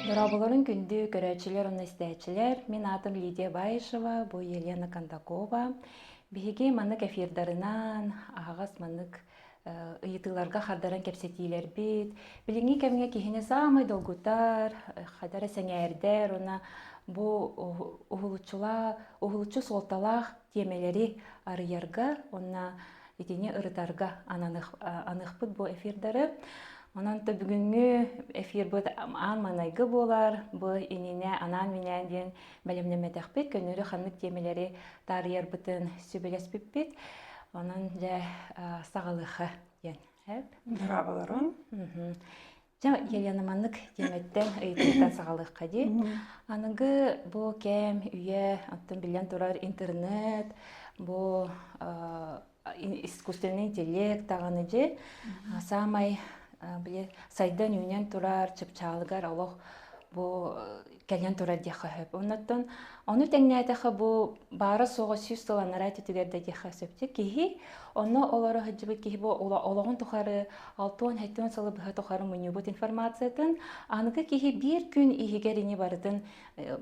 Дорооболорун күндү көрөөччүлэр уонна истээччилэр. Мин аатым Лидия Баишева, бу Елена Кондакова. Биһиги маннык эфирдарынан аһаҕас маннык ыйытыыларга хардаран кэпсэтиилэрбит. Билиҥҥи кэмҥэ киһини саамай долгутар, хадара сэҥээрдэр уонна бу уһулуччулаах, уһулуччу суолталаах тиэмэлэри арыйарга уонна итини ырытарга ананых, аныхпыт бу эфирдары. Онон то бүгүҥҥү эфирбыт аан маҥнайгы буолар. Бу ининэ анаан-минээн диэн бэлэмнэммэтэхпит көннөрү ханнык тиэмэлэри таарыйарбытын сүбэлэспиппит онон дьэ саҕалыха диэн эп быраабыларын Дьэ, Елена маннык тиэмэттэн ыйытыыттан саҕалыахха дии. Аныгы бу кэм үйэ, оттон биллэн турар интернет, бу искусственный интеллект даҕаны дьи саамай били сайдан үүнэн турар чыпчаалыгар олох бу кэлэн турар диэххэ сөп оннуттан ону тэҥнээтэхэ бу баара суоҕа сүүс сыланара түтүгэр да диэххэ сөптүк киһи онно олоро сылдьыбыт киһи бу олоҕун тухары алтуон сылы быһа тухары мунньубут информациятын аныгы киһи биир күн иһигэр ини барытын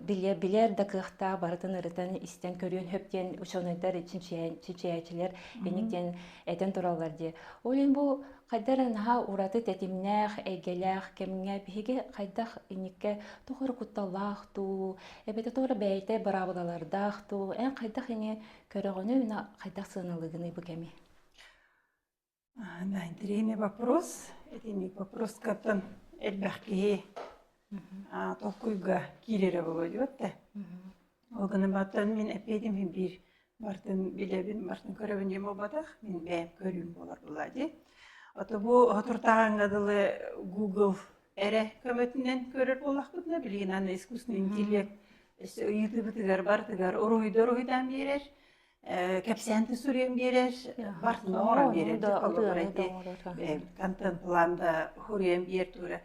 билэ билэр да кыахтаах барытын ырытан истэн көрүөн сөп диэн учуонайдар чинчийээччилэр эник диэн этэн тураллар дии ол иһин бу хайдах наһаа ураты тэтимнээх эйгэлээх кэмҥэ биһиги хайдах инникке тухары кутталлаах дуу эбэтэ туора бэйэтэ быраабылалардаах дуу эн хайдах ини көрөҕүнүй хайдах сыаналыгыный бу кэми А, да, интеллигентный вопрос. Итинник вопроскаттан элбэх киһи а, толкуйга киирэрэ болойуот да. Ол гынан баттан мин эппедим мин биир бартын билэбин, бартын көрөбүн дем болбатах, мин бэйэм көрүүм болар була ди. Ото бу отуртааганга дылы Google эрэ көмөтүнэн көрөр боллахпытына, билигин аны искусственный интеллект ыйытыбытыгар бартыгар уруһуйдар уруһуйдаан биэрэр. Э, кэпсээнти суруйан биэрэр, барытын оҥорон Ону биэрэр. да Холобура ытыаны да ити оҥорор. э, контент-план да суруйан биэр тура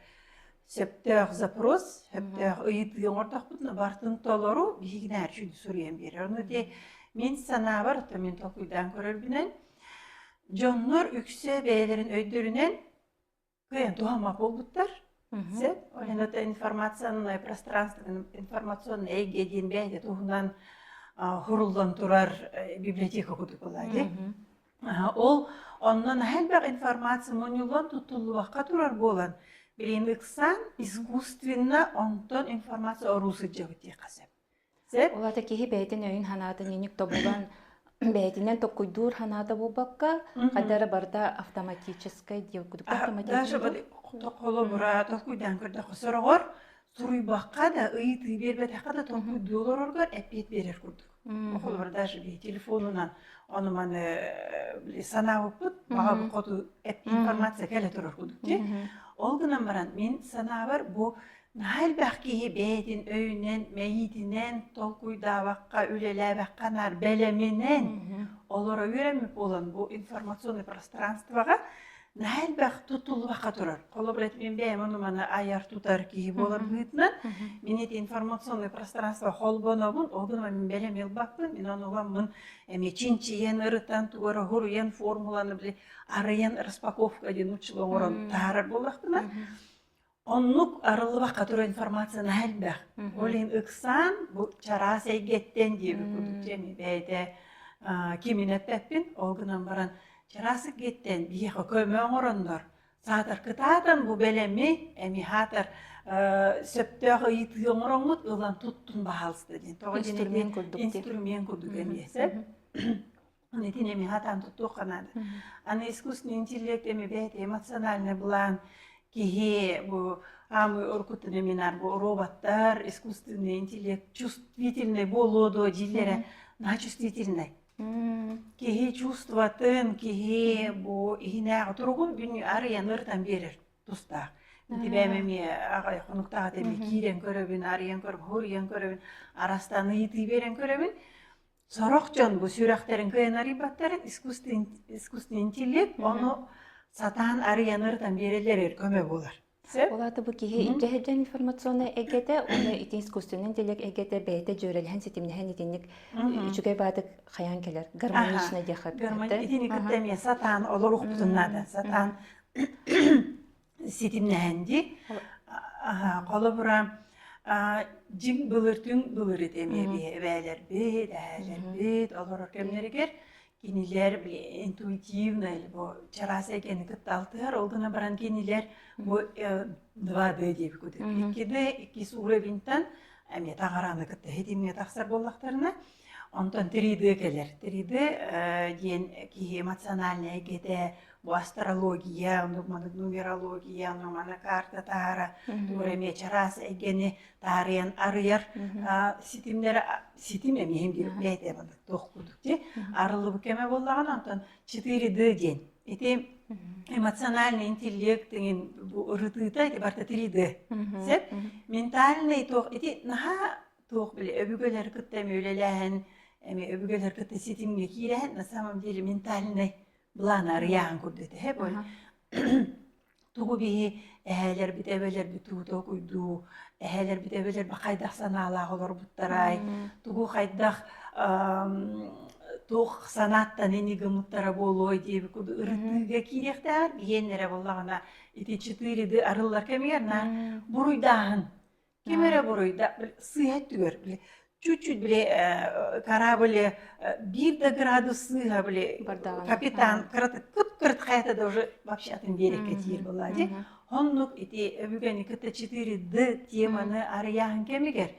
сөптөөх запрос, Мгм. сөптөөх ыйытыы оҥортохпут, но барытын толору биһигинээр үчүн суруйан биэрэр. Ону ити мин санаабар, то мин толкуйдаан көрөрбүнэн, дьоннор үксэ бэйэлэрин өйдөрүнэн кыйын туһама буолбуттар сөп оһен это информационное пространство информационный эйгэ диэн бэйэ туһунан хуруллан турар библиотека кутук ылади ол оннон хэлбэх информация муньуллан тутуллубакка турар буолан билин ыксаан искусственно онтон информация оруу сылдьабыт диэххэ сөп Сөп. Ол аата киһи бэйэтин өйүн-санаатын инник тобулан, бэйэтинэн токкуйдуур санаата буолбакка, хайда эрэ барыта автоматическай диир кудук автоматическай холобура толкуйдаан көрдөххө сороҕор суруйбакка да ыйытыы биэрбэтэххэ да толкуйдуу олороргор эппиэт берер курдук холобур даже бии телефонунан ону маны санаабыппыт баҕа хоту эппиэт информация кэлэ турар курдук дии ол гынан баран мин санаабар бу Наһаа элбэх киһи бэйэтин өйүнэн, мэйиитинэн толкуйдаабакка, үлэлээбэккэ наар бэлэминэн Мгм. олоро үөрэммит буолан бу информационнай пространствоҕа наһаа элбэх тутуллубакка турар. Холобура, ити мин бэйэм ону-маны айар-тутар киһи буолар Мгм. быһыытынан, Мгм. мин ити информационнай пространство холбонобун, ол гынан мин бэлэм ылбаппын, мин онуламмын эмиэ чинчийэн, ырытан, туора-хуруйан, формуланы били арыйан распаковка диэн нуччалыы оҥорон Мм. таһаарар буоллахпына, Мгм. Оннук арыллыбакка турар информацияны элбэх. Ол иһин ыксаан бу чараас эйгэттэн диэбит курдук дьэми бэйэтэ кимин эппэппин, ол гынан баран чараас эйгэттэн биһиэхэ көмө оҥороннор саатар кытаатан бу бэлэми эми хаатар сөптөөх ыйытыы оҥороҥҥут ылан туттун баһаалыста диэн. Тоҕо инструмент курдук эмиэ сөп. итини эми хатаан туттуохха наада аны искусственный интеллект эми бэйэтэ эмоциональный былаан киһи бу аамы оркуттан эминар бу роботтар искусственный интеллект чувствительный болоо доо дииллэрэ начувствительный киһи чувстватын киһи бу иһинээҕи туругун бүннү арыйан ыртан берер тустаах тибээм эми аҕай хонуктаата эми киирэн көрөбүн арыйан көрбүн хуруйан көрөбүн арастаны ытыы берен көрөбүн Сорох дьон бу сүрэхтэрин кыанарыйбаттарын искусственный интеллект ону сатаан арыйан ырытан биэрэллэригэр көмө буолар. Сөп? Ол аата бу киһи илдьэ сылдьан информационнай эйгэтэ уонна ити искусственный интеллект эйгэтэ бэйэтэ дьүөрэлэһэн ситимнэһэн итинник үчүгэй баадык хайаан кэлэр гармонично диэххэ итини кытта эмиэ сатаан олоруохпутун наада сатаан ситимнэһэн ди холобура дьим былыртын былырыт эмиэби эбээлэрбит эһээлэрбит олорор кэмнэригэр кинилэр интуитивно бу чараас экени кытта алтыһар ол гына баран кинилэр бу два д диэбит кутут икки да иккис уровеньтан эмиэ таҕарааны кытта ситимҥэ тахсар буоллахтарына Онтон Теридэ кэлэр. Теридэ э, диэн киһи эмоциональнай эйгэтэ, бу астрология, оннук-маннык нумерология, ону мана карта таһара, туора эмиэ чараас эйгэни таарыйан арыйар а, ситимнэр ситим эмиэ бэйэтэ маннык туох курдук дии арылыбы кэме боллаган онтон четыре д диэн ити эмоциональный интеллект деген бу ырытыыта ити барта три д сеп ментальный туох ити наһаа Туох били өбүгэлэр кытта эмиэ үлэлээһин, эмиэ өбүгэлэр кытта ситимҥэ киирээһин на самом деле ментальнай былааны арыйааһын курдук этэ бу. Тугу биһи эһээлэрбит эбэлэрбит тугу толкуйдуу, эһээлэрбит эбэлэрбит хайдах санаалаах олорбуттарай, тугу хайдах туох санааттан ини гымыттара буолуой диэбит курдук ырытыыга киириэхтээҕэр биһиэннэрэ буоллаҕына ити четыреды арылла кэмигэр на буруйдааһын Ким эрэ буруйда, били, сыыһа өттүгэр били чуть-чуть били э, корабль э, биир да градус сыыһа били Бардаҕын. капитан кыт-кыт хайата да уже вообще атын биэрэккэ тиийэр была дии. Оннук ити бүгүн кытта четыре д теманы арыйаһын кэмигэр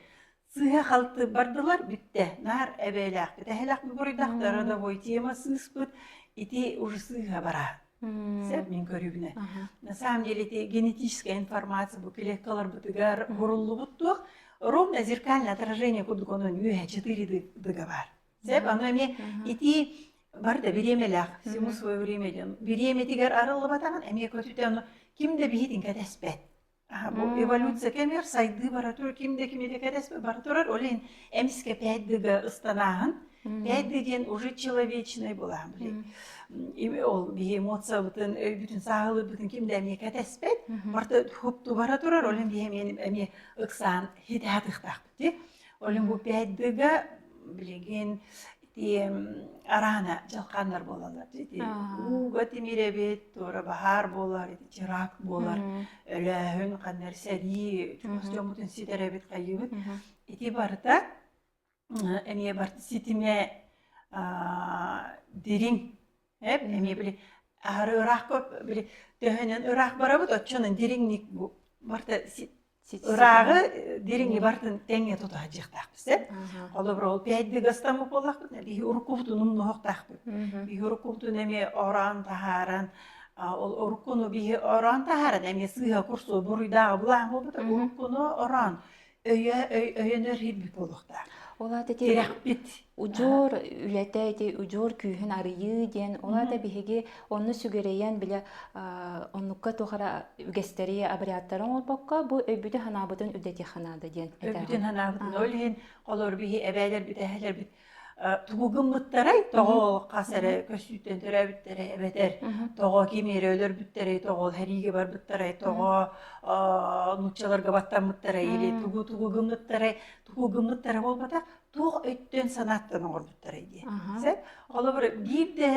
сыыһа халтып бардылар бүттэ. Нар эбээлээх бүтэһэлэх буруйдахтар родовой темасын ыспыт ити уже сыыһа бара. Сөп мин көрүбүнэ. На самом деле ити генетическая информация бу клеткаларбытыгар буруллубут туох ровное зеркальное отражение кудгонун үөһэ четыре дыга бар. Сөп аны эмиэ ити бар да бириэмэлээх всему свое время диэн бириэмэтигэр арыллыбатаҕын эмиэ көтүтэ аны ким да биһитин кэтэспэт Аһа бу эволюция кэмигэр сайдыы бара турар ким да кимиге кэтэспэт бара турар ол иһин эмискэ пять дыга ыстанааһын пять ды диэн уже человечный былаһын билий ол биһи эмоциябытын өйбүтүн сааһылыырбытын ким да эмиэ кэтэспэт барта хопту бара турар ол иһин биһи эмиэ эмиэ ыксаан хитэ атыахтаахпыт ол иһин бу пять дыга билигин Тиэм араана дьалхааннар буолаллар ити ууга тимирэбит туора баһаар буолар ити чырак буолар өлөөһүн ханнар сэрии чугас дьоммутун ситэрэбит хайыыбыт ити барыта эмиэ бар ситимэ дириҥ Эп эмиэ били аһары ыраахка били төһөнөн ыраах барабыт оччонон дириҥник бу барта ырааҕы дириҥи бартын тэҥҥэ тута садьыахтаахпыт сеп холобур ол пять дыгастамы боллахпыт биһи уруккубутун умнуохтаахпыт биһи уруккубутун эмиэ ороон таһааран ол уруккуну биһи ороон таһааран эмиэ сыыһа курсу буруйдааҕы булаан буолбута уруккуну ороон өйө өй өйөнөр ииммит буолуохтаах ол аата ити тирэхпит удьуор үлэтэ ити удьуор күүһүн арыйыы диэн ол аата биһиги онну сүгүрэйэн бile оннукка тухара үгэстэри обрядтары оҥорбокко бу өйбүтүн санаабытын үлэтиэхэ наада диэн өйбүтүн санаабытын ол иһин холор биһи эбээлэр бүтэһэлэрбит Тугу гыммыттарай? Тоҕо хас эрэ көссүүттэн төрөөбүттэрэ эбэтэр тоҕо ким эрэ өлөрбүттэрэй, тоҕо сэриигэ барбыттарай, тоҕо нууччаларга баттаммыттарай или тугу тугу гыммыттарай, тугу гыммыттара буолбатах, туох өттүн санааттан оҥорбуттарай диэн. Холобур, биир да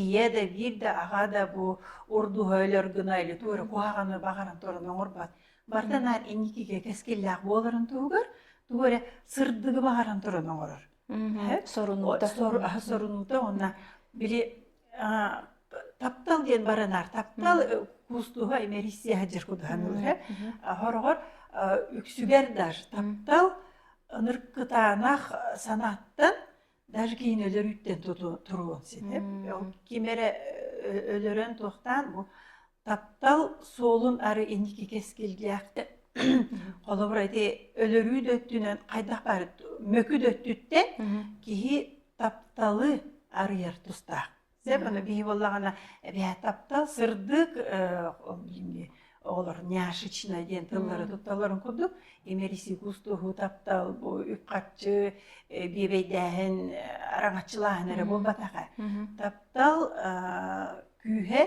ийэ да, биир да аҕа да бу урдуһа өлөр гына или туора куһаҕаны баҕаран туран оҥорбот Барыта наар инникигэ кэскиллээх буоларын туһугар тугу эрэ сырдыгы баҕаран туран оҥорор. Мгм. Сорунуута. сор сорунуута уонна били а, таптал диэн бары наар таптал э, кустуһа имериссия саһдьар кутуһан ылыһа хороҕор үксүгэр да таптал ынырык кытаанах санааттан даже кийин өлөр үттен туруо ситип ол ким эрэ өлөрөн туохтаан бу таптал суолун ары иники кескилгиэхте холобура ити өлөрүү да өттүнэн хайдах бар мөкү да өттүттэн киһи тапталы арыйар тустаах Дьэ, Мгм. bunu бии буоллаҕына, эбээ таптал сырдык, э, оҕолор няшечная диэн тыллары М. тутталларын курдук, имэрисий кустуһуу таптал, бу үп-харчы, э, биэбэйдээһин, араҥаччылааһын эрэ Мгм. буолбатаҕа. Мгм. Таптал, э, күүһэ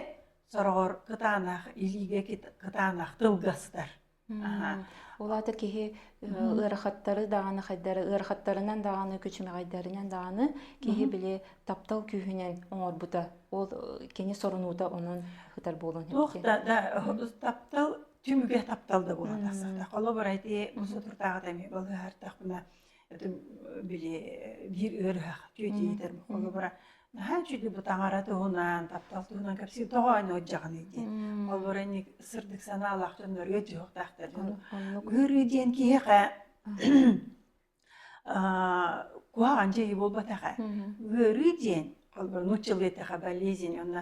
сороҕор кытаанах, илиигэ кыт кытаанах тылгастар. Улаата киһи ыарахаттары даҕаны хайдары ыарахаттарынан даҕаны күчүмэҕэйдэринэн даҕаны киһи били таптал күүһүнэн оҥорбута ол кини сорунуута онон ытар буолуон иһин туох да да таптал түмүгэ таптал да буола тахсата холобура ити бу соторутааҕыта эмиэ балыыһартахпына били биир ыарыһах дьүөдьийдэр холобура наһаа үчүгэй бу таҥара туһунан таптал туһунан кэпсиир тоҕо аны отдьаҕыный диэн холобура инник сырдык санаалаах дьоннор үөтүөхтаахтар ыарыы диэн киһиэхэ куһаҕан дьайыы буолбатаҕа ыарыы диэн холобура нуучча былыйытаха болезнь онно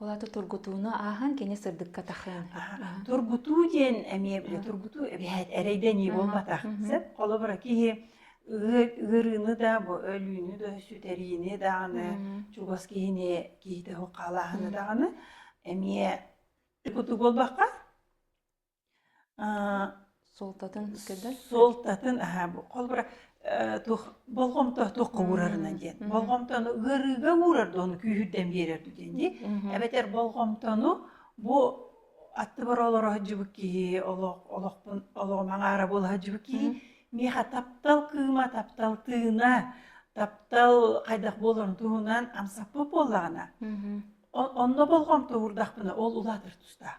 Олата тургутууну аахан кини сырдыкка тахыан. Тургутуу диэн эмиэ тургутуу эбэһэт эрэйдэнии буолбатах. Сеп холобура киһи ыарыыны да бу өлүүнү да сүтэриини дааны чугас киһини киһитэ хухалааһыны дааны эмиэ куту буолбакка Аа, суолтатын көрдөр суолтатын аһаа бу холбура э, тух болҕомто туохха уурарына диэн болҕомтону ыарыыга уурар да ону күүһүрдэн биэрэр дуу диэн дии эбэтэр болҕомтону бу аттыбар олоро сылдьыбыт киһи олох олохпун олоҕу маҥаара буола сылдьыбыт киһи миэхэ таптал кыыма таптал тыына таптал хайдах буоларын туһунан амсаппыт буоллаҕына онно болҕомто уурдахпына ол улаатар тустаах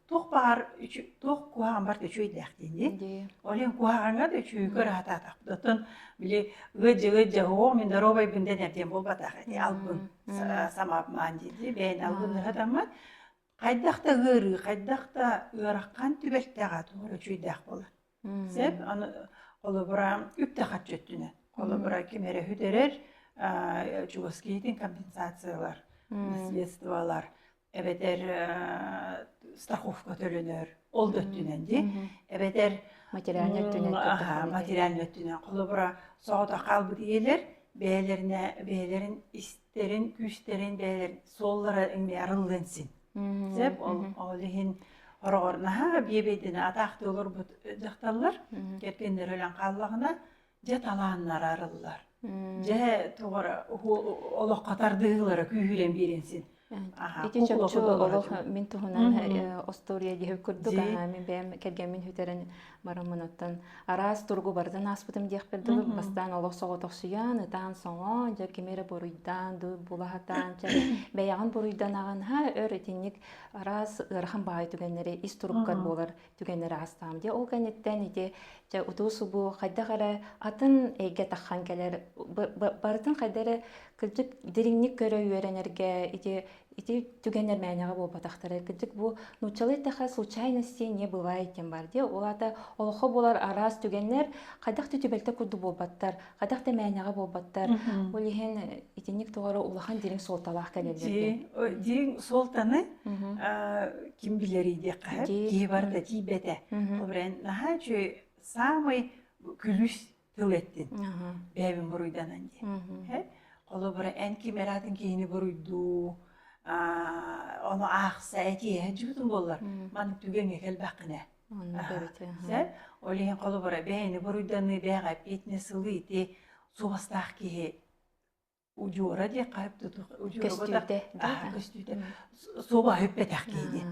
туох баар туох куһаҕан барт үчүгэйдээхтииний олен куһаҕаҥҥа да үчүгүйгө ыраатаатахпытын били ыджы ыджы ооо миндоробай бинде нэрдиэн буолбатах эти албын самаапмаан дии бэйэн албын ыратаммат хайдах да ыарыы хайдах да ыарахан түбэлтэҕэ туора үчүгэйдээх буолар Сеп аны олобура үптэхаччы өттүнэ. Олобура ким эрэ хүдэрэр чугас киһитин компенсациялар, наследстволар эбэтэр страховка төлөнөр ол да өттүнэн ди эбэтэр материальный өттүнэн аха материальный өттүнэн холобура соҕото хаалбыт ийэлэр бэйэлэринэ бэйэлэрин истэрин күүстэрин бэйэлэрин суоллара иҥмэ арыллыан син Сөп, ол иһин ороҕор наһаа биэбэйдэнэ атаахтыы олорбут дьахталлар кэргэннэр өлөн хааллаҕына дьэ талааннара арыллар. Дьэ тоҕо олоххо тардыһыылара күүһүрэн биэрэн син ити чопчу олох мин туһунан остуоруйа диһи курдук аһаамин бэйэм кэргэммин хүтэрэн бараммынаттан араас туругу бардан ааспытым диэхпин дылы бастаан олох соҕотохсуйан ытаан соҥо дьэ кими эрэ буруйдаан ду булаһатаан чэ бэйэҕин буруйданаҕын ха өр итинник араас ыарахан баайы түгэннэри ис туруктар буолар түгэннэри аастаам дии ол кэнниттэн ити дьэ утуу субу хайдах эрэ атын эйгэ таххан кэлэр барытын хайда эрэ кырдьык дириҥник көрө үөрэнэргэ ити ити түгэннэр мээнэҕэ буолбатахтара кырдьык бу нууччалыы эттэхэ случайности не бывает диэн баар диэ ол аата олоххо буолар араас түгэннэр хайдах да түбэлтэ курдук буолбаттар хайдах да мээнэҕэ буолбаттар ол иһин э, итинник туора улахан дириҥ суолталаах кэлэллэр дириҥ суолтаны ким билэр диэххэ киһи барыта тиийбэтэ ол наһаа үчүгэй самый күлүс тыл эттин бэйэбин буруйданан дии холобура эн ким эраатын киһини буруйдуу ону аахса этиэһэ дьыбытын буоллар маны түгэҥҥэ кэлбэхкинэ ол иһин холобура бэйэни буруйданыы бэйэҕэ эппиэтинэ сылы ити суобастаах киһи удьуора диэххэ көстүүтэ аһа көстүүтэ суобаһа үппэтэх киһини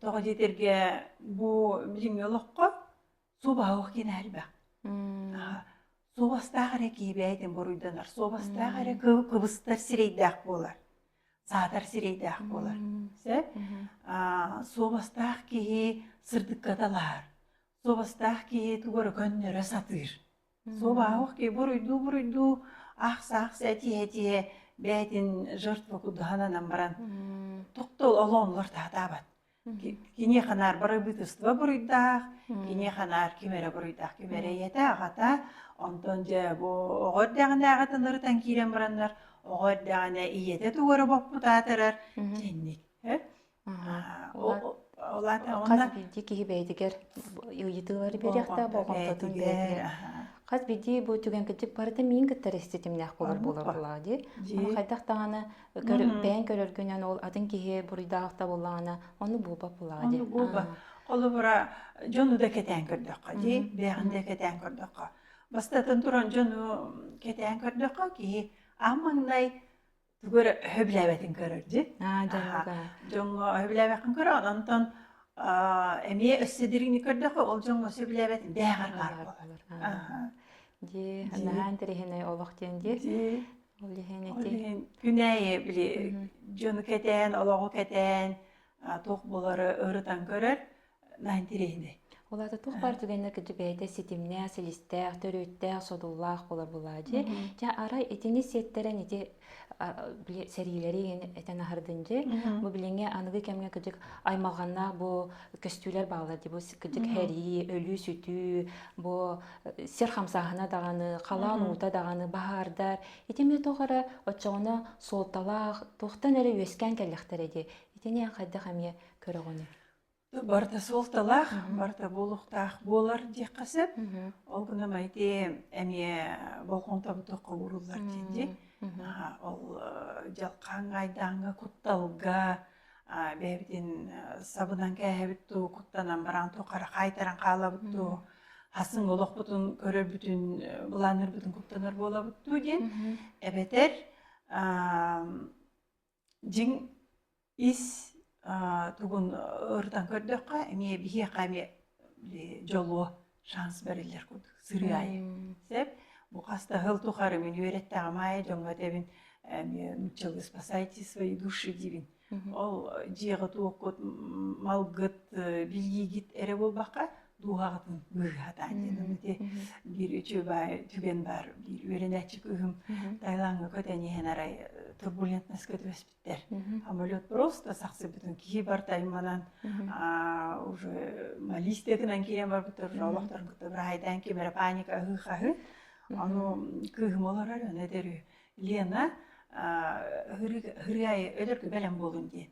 тоҕо диэтэргэ бу билиҥҥи олоххо суобаһа ох киэнэ элбэх суобастаах эрэ киһи бэйэтин буруйданар суобастаах эрэ кыбыстар сирэйдээх буолар саатар сирэйдээх буолар суобастаах киһи сырдыкка талаһар суобастаах киһи тугу эрэ көннөрө сатыыр Суобаһыах ки буруйдуу-буруйдуу аах-саах сэтиһэ-этиһэ бээтин жертва курдуһананан баран Мм. тохтол олоонугар таһатаабат. Ки- киниэхэ наар бары бытыстыба буруйдаах, киниэхэ наар ким эрэ буруйдаах, ким эрэ ийэтэ, аҕата, онтон дьэ бу оҕо эрдэҕинээҕи тынырытан киирэн бараннар, оҕо эрдэҕинэ ийэтэ тугу эрэ боппут аатырар, дьэнник. Э? Хас биирдии киһи бэйэтигэр ыйытыылары биэриэхтээх, болҕомтотун биэрэр. Хас биирдии бу түгэн кырдьык барыта миин кытта ситимнээх болор болор буолаҕа дии. Ама хайдах даҕаны бэйэҥ көрөргүнэн ол атын киһи буруйдаахта буоллаҕына ону буолбат буолаҕа дии. Ону буолбат. Холобура дьону да кэтээн көрдөххө дии, бэйэҕин да кэтээн көрдөххө. Бастатан туран дьону кэтээн көрдөххө киһи ам маҥнай Бүгүр өһөбүлээбэтин көрөр ди. Аа, дьонго. Дьонго өһөбүлээбэккин көрө, онтон эмиэ өссө дириҥни көрдөхө, ол дьонго сөбүлээбэтин бэҕэр баар буолар. Дии, наһаа интэриэһинэй олох диэн дии. Ол иһин ити. Ол иһин күнээйи били дьону кэтээн, олоҕу кэтээн туох булары ырытан көрөр, Интересный. Ол аата туох бар түгэннэр кытта бэйэтэ ситимнээх, силистээх, төрүттээх, содуллаах болор булаа дии. Дьэ арай итини сиэттэрэн ити сэриилэри этэн аһардын дии. Бу билиҥҥи аныгы кэмҥэ кыдьык аймалҕаннаах бу көстүүлэр баалар дии. Бу кыдьык һэрии, өлүү-сүтүү, бу сир хамсааһына даҕаны, халаан уута даҕаны баһаардар. Ити эмне тоҕо эрэ оччоҕуна суолталаах, туохтан эрэ үөскээн кэллэхтэрэ дии. Итини эн хайдах эмиэ көрөҕүнүй? Барыта суолталаах, барыта буолуохтаах буолар диэххэ сөп. Мгм. Ол гынан баран ити эмиэ болҕомтобуту ууруллар диэки. Мгм. Аха, ол э, дьалхааҥҥа, айдааҥҥа, кутталга а, бэйэбитин э, сабынан кээһэбит дуу, куттанан бараан тухары хаайтаран хаалабыт дуу, Мгм. хасың олохпутун көрөрбүтүн, э, былааннарбытын куттанар буолабыт дуу диэн Мгм. эбэтэр аам, дьиҥ ис тугун ырытан көрдөххө эмиэ биһиэхэ эмиэ дьолуо шанс бэриллэр курдук сырыы аайы сэп бу хастаһыл тухары мин үөрэттэҕим аайы дьоҥҥо этэбин эмиэ нуучча выспасайте свои души диибин ол дьиэҕэ туохкут малгыт билиигит эрэ буолбакка дууһаҕытын быыһатаан диэным ити биир үчүгэй баар түгэн баар биир үөрэнээччи кыыһым Таилаҥҥа көтөн иһэн арай турбулентноска түбэспиттэр самолет просто сахсыбытын киһи барта айманан уже малистетынан киирэн барбыттар уже олохторун кытта быраайдаан кимэрэ паника аһыы хаһын ону кыыһым олорор өне дөрү Лена ырыай өлөркө бэлэм буолун диэн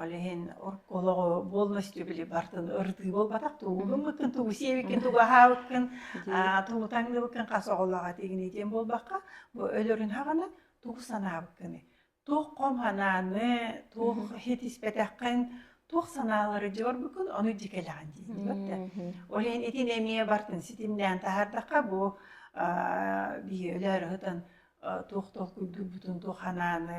Ол иһин олоҕу буолмаччы били бартын ырытыы буолбатах тугу гыммыккын тугу сиэбиккин тугу аһаабыккын тугу таҥныыбыккын хас оҕолоох этигиний диэн буолбакка бу өлөрүн хаҕынан тугу санаабыккыный туох хом санааны туох хитиспэтэххин туох санаалары дьэ барбыккын ону дьэ кэлэҕин дииллэр ол иһин итин эмиэ бартын ситимнээн таһаардахха бу биһи өлөөр ыһытан туох туох курдук бутун туох санааны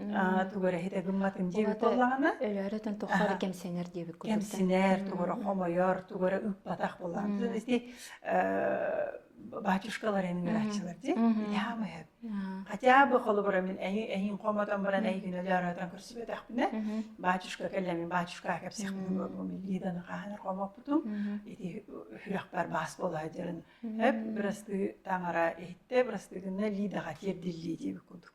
аа тугу эрэ иһитэ гымматын диэбит Уһата буоллаҕына өлөөрөтөн тоххо эрэ аха кэмсинэр диэбит курдуктан. кэмсинэр тугу эрэ Мм. хомойор тугу эрэ ыппатах буоллаҕына Мм. ити э батюшкалар ааччылар дии Мгм. итаамыһы Аа. хотя бы холобура мин эйи эйин хомотон баран Мм. эйигин өлөөрөтөн көрсүбэтэхпинэ Мгм. батюшка кэллэмин батюшкаа кэпсиэхпин дуо бу Мм. миллиданы хааһынар хомоппутум Мгм. ити үһүөхпэр баас буолаа дьарын эп Мм. бырастыы таҥара иһиттэ бырастыы гынна лидаҕа тиэрдиллии диэбит курдук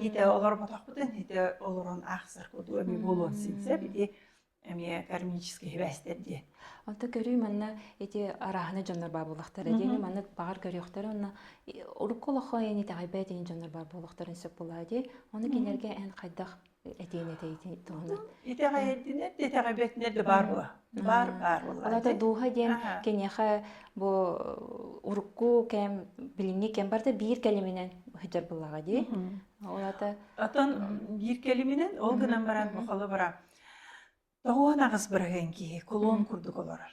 Һитэ олорботохпутун һитэ олорон аахсар куту эми буолуон синсеп ити эмиэ кармический хибээстэр диэн. Онто көрүү манна эти арааһына дьоннор баар буолахтар. Эдиэни манна баҕар көрүөхтэр онно урукку олоххо яни итэҕэйбэ этиин дьоннор баар буолахтарын сөп булаа дии. Оны кинерге эн хайдах этиин этэйитин туһунан. Итэҕэйдинер итэҕэйбэтинер да баар була. баар баар Алата дууха диэн киниэхэ бу урукку кэм билиҥҥи кэм барда биир кэлиминэн сылдьар булаҕа дии. Олата Оттон биир кэлиминэн ол гынан баран бу холобура тоҕуон аҕыс быраһыан киһи кулуун курдук олорор.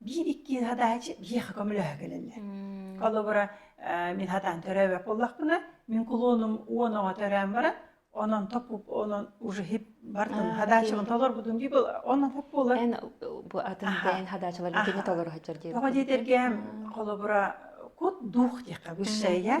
биир иккиин хатааччы биһиэхэ көмөлөһө кэлэллэр. Холобура, мин хатаан төрөөбөт буоллахпына, мин кулуонум уон оҕо төрөөн баран, онон топпуп, онон уже хип бардым, хадаачыбын толорбутум дии был, онон хоп буолар. Эн бу атын дэйэн хадаачылар итини толору хаччар диир. Тоҕо диэтэргэ, холобура, кут дух диэххэ высшая,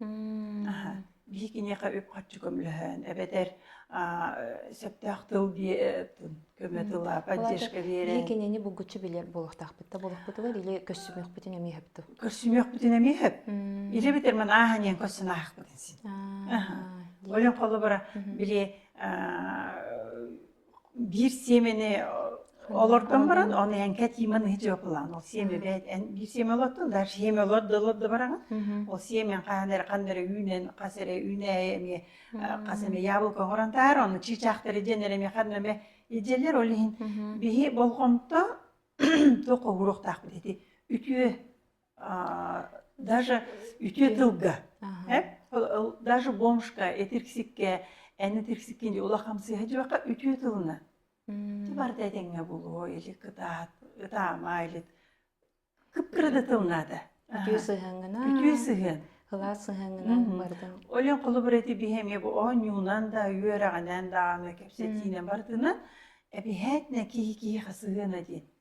Аха. Биһи киниэхэ үп-харчы көмөлөһөөн эбэтэр аа, э, сөптөөх тыл дии э, тыл көмө Мм. тыла Валаата поддержка биһи биэрэн кинини булгуччу билэр буолуохтаахпыт да буолуохпутугар или көрсүмүөхпүтүн эмиэ сөптүү. көрсүмүөхпүтүн эмиэ сөп. Мм. Ира эбэтэр ман ааһаниан көрсөн аахпытын син. Аха. Аха. Ойон холобура Мгм. били аа, биир сиэмэни олордон баран оны эҥке тиман дьыалалаан ол сиэмэбэ эн биир сиэмэ олордун да сиэмэ олордо олордо бараҥа ол сиэмэн хаһан эрэ ханна эрэ үүнэн хас эрэ үүнээйи эмиэ хас эмэ яблоко оҥорон таар оны чыычаахтары дьэн эрэ эмиэ ханна эмэ идьэлэр ол иһин биһи болҕомто туох оһуруохтаахпыт ити үтүө даже үтүө тылга даже бомжка этирксикке эн этирксиккин дии ула хамсыыһа дьыбака үтүө тылына барыта этэҥҥэ булуо или кытаат ытаама или кыппырада тылнаата үтүө сыһыангына үтүө сыһыан ылаас сыһыангынан бардым олен холобур эти биһэмие бу оонньуунан да үөрэҕинэн дааны кэпсэтиинэн бартынан эбиһээтнэ киһи киһи хасыһыана диэн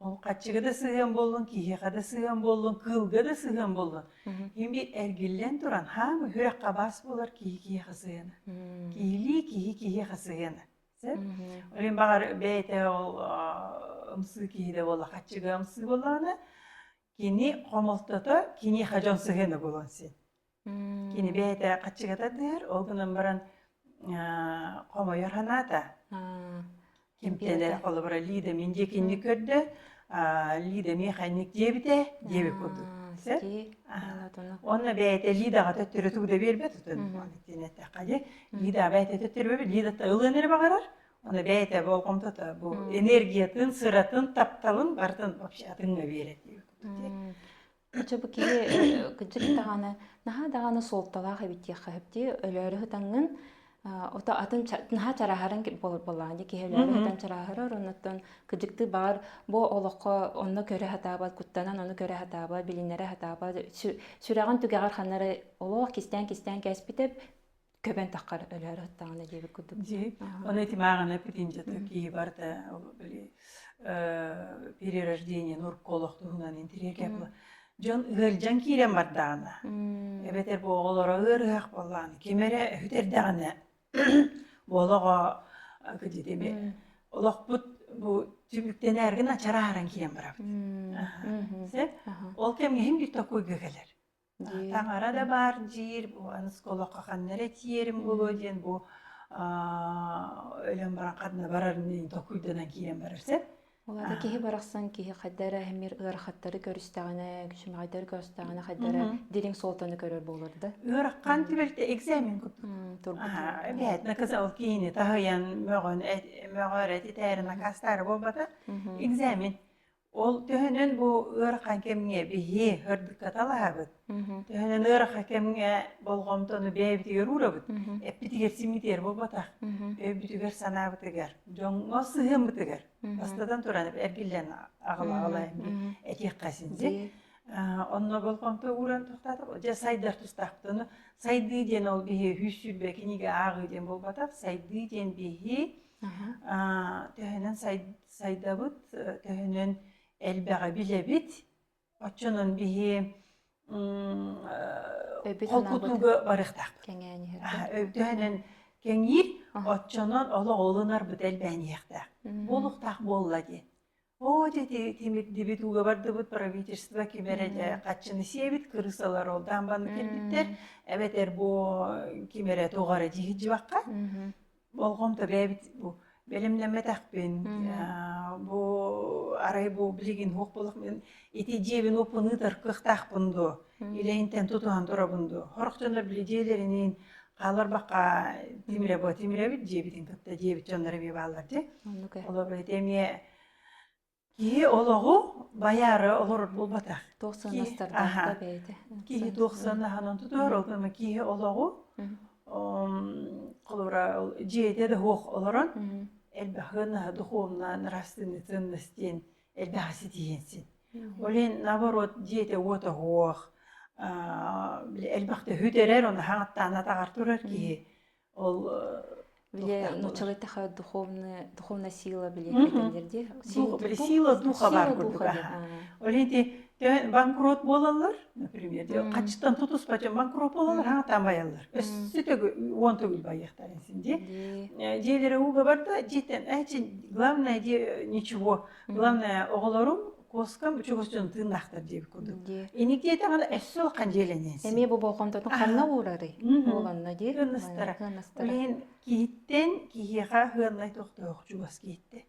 Хаччыга да сыһыан боллун, киһиэхэ да сыһыан боллун, кыылга да сыһыан боллун. Имби эргиллэн туран хаам үһүрэххэ бас булар киһи киһиэхэ сыһыана. Киһилии киһи киһиэхэ сыһыана. Сеп? Олин баҕар бэйэтэ ол ымсыы киһи да буолла, хаччыга ымсыы буоллаҕына, кини хомолтото киниэхэ дьон сыһыана буолан син. Кини бэйэтэ хаччыгата тыыр, ол гынан баран хомойор санаата. Кимтэнэр холобура Лида мин диэкинник көрдө, Лида механик диэбитэ диэбит курдук. Сөп? Онно бэйэтэ Лидаҕа төттөрү тугу да биэрбэт отун. Ол иттин эттэххэ дии. Лида бэйэтэ төттөрү Лидата ылыан эрэ баҕарар. Ону бэйэтэ болҕомтото бу энергиятын, сыратын, тапталын барытын вообще атыҥҥа биэрэр диэбит курдук дии. Чэ бу киһи кырдьык даҕаны наһаа даҕаны суолталаах эбит диэххэ сөп дии. Өлөөрү ытаҥҥын ото атын наһаа чарааһарын буоллаҕа дии киһилэри ытан чарааһырар оннуттан кыдьыктыы баҕар бу олоххо онно көрө сатаабат куттанан ону көрө сатаабат билиннэрэ сатаабат сүрэҕин түгэҕэр ханнары олох кистээн кистээн кэспитэ көбөн тахкар өлөөр аттаҕына диэбит курдук оны этимааҕына петинчата киһи барда ол били перерождение нурка олох туһунан интриге була дьон ыырдьан киирэн бардаҕына эбэтэр бу оҕолоро ыар ыһах буоллаҕына ким эрэ үтэрдэҕинэ олоҕо кыдьытими олохпут бу түбүктэнээргин ачарааран киэн барабыт ол кэмҥэ иһин бүттэ куйга кэлэр Таҥара да баар диир, бу осколокка ханна эрэ тиэрим буолуо диэн бу өлөн баран ханна барарын докуйданан киирэн барар сөп. Улада киһи барахсан киһи хайдара эмир ыарахаттары көрүстэҕинэ, күчүмэҕэйдэр көрүстэҕинэ хайдара дириҥ суолтаны көрөр буолар да? Ыарахан түбэлтэ экзамен куппут. Турбут. Бэт наказал киһини таһыйан мөҕөн мөҕөр этитээрин акастары буолбата экзамен. Ол төһөнөн бу ыарахан кэмҥэ биһи ырдыкка талаһабыт, мм төһөнөн ыарахан кэмҥэ болҕомтону бэйэбитигэр уурабыт, мм эппитигэр симитиэр буолбатах, мм өйбүтүгэр санаабытыгар, дьоҥҥо сыһыанбытыгар мм бастатан туран эргиллэн аҕалаҕалайын дии мм этиэххэ син дии онно болҕомто ууран тохтотоҕут дьэ сайдар тустаахпыт ону сайдыы диэн ол биһи үһүс сүүрбэ кинигэ ааҕыы диэн буолбатах сайдыы диэн биһи төһөнөн сайдабыт, төһөнөн элбэҕи билэбит. Оччонон биһи холкутууга барыахтаахпыт. Төһөнөн кэҥиир, оччонон олох олунарбыт элбээниэхтээх. Буолуохтаах буолла дии. Оо, дьэди, тимирдибит, ууга бардыбыт, правительство ким эрэ дьэ Мм. хаччыны сиэбит, кырыысалар ол даан банна кэлбиттэр, Мм. эбэтэр бу ким эрэ тоҕо эрэ дьиһиччибэххэ, Мгм. болҕомто бэйэбит бу бэлэмнэммэтэхпин, Мм. аа бу арай бу билигин суох буоллахпын Ити дьиэбин уппунуутар кыахтаахпын дуо? Үлэһинтэн тутуһан турабын дуо? Хорох дьоно били дьиэлэринин хааларбакка тимире бу тимирэбит дьиэбитин кытта дьиэбит дьоннор эмиэ бааллар дии. Олор эти эмиэ киһи олоҕу байаары олорор буолбатах. Туох санастардаах бэйэтэ. Киһи туох санаһанан тутуһар, ол гына киһи олоҕу холура дьиэтэ да хуох олорон элбэх гына духуомнан растынытын настен элбэх ситиһин син. Ол иһин наоборот дьиэтэ уот оһуох, элбэх төһүтэрэр, оны хаҥаттаана атаҕар турар киһи ол Биле нучалый такая духовная духовная сила биле дедилер ди. Сила духа бар курдук. Ол ити Дьэ, банкрот буолаллар, например, хаччыттан тутуспа дьон банкрот буолаллар, хаатаан байаллар. Өссө төгүл уон төгүл байыахтарын син дии. Дьиэлэрэ ууга барда, дьиэтэн эчин главное дии ничего, главное оҕолорум куоскам чугус дьон тыыннаахтар диэбит курдук. Ини диэтэҕинэ өссө улахан дьиэлэнэн син. Эмиэ бу болҕомтотун ханна уурарый? Буоланна дии. Кыаннастара. Кыаннастара. Киһиттэн киһиэхэ хыаннай тохтоох чугас киһиттэн.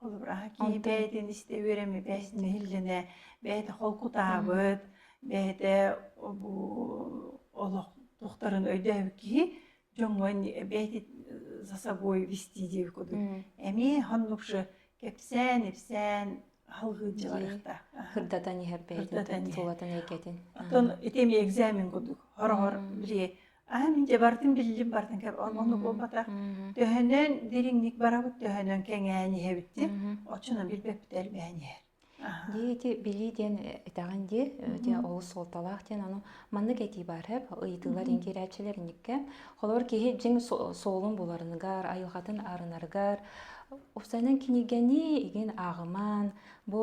Холобур, аһа киһи бэйэтин истэ үөрэммит, бэйэтин нэһиллэнэ, бэйэтэ холкутаабыт, бэйэтэ бу олох тохтарын өйдөөбүт киһи дьоҥҥун бэйэтит за собой вести диэбит курдук эмиэ хоннукшу кэпсээн ипсээн алгыырдьа барыахтаах кырдатан иһэр бэйэтин тулатын эйгэтин оттон ити эмиэ экзамен курдук хороҕор били Аһа мин дьэ бартын биллим бартын кэп онно Мгм. буолбата. Мгм. Төһөнөн дириҥник барабыт, төһөнөн кэҥээн иһэбитин, Мгм. оччону билбэппит элбээн иһэр. Аһа. Дии ити билии диэн э, итэҕин дии, э, дьэ Мгм. олус суолталаах диэн аны маннык этии баар эб, ыйытыылар Мгм. иҥкирээччилэриниккэ. Холобур киһи дьиҥ со суолун буларыныгар, айылҕатын арынарыгар, усанан киниггэни игин ааҕыман, Бу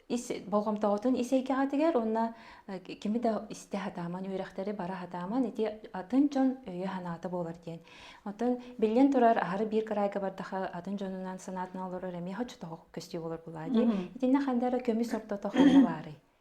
ис болҕомтоҕутун ис эйгэҕитигэр уонна кими да истэ сатааман үөрэхтэри бара сатааман ити атын дьон өйө-санаата буолар диэн. Оттон биллэн турар аһары биир кыраайга бардаха атын дьонунан санаатын олорор эмиэ хоччотоҕо көстүү болор булаа дии. Итиннэ ханна көмүс ортото ханна баарый?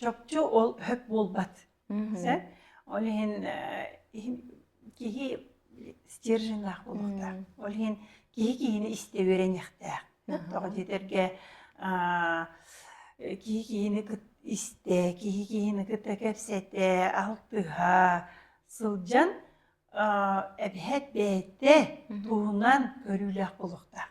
чопчу ол хөп буолбат. Сэ ол иһин киһи стерженнаах буолуохтаах. Ол иһин киһи киһини истэ үөрэниэхтээх. Тоҕо диэтэргэ киһи киһини истэ, киһи киһини кытта кэпсэтэ, алтыһа сылдьан эбэһэт бэйэтэ туһунан көрүүлээх буолуохтаах.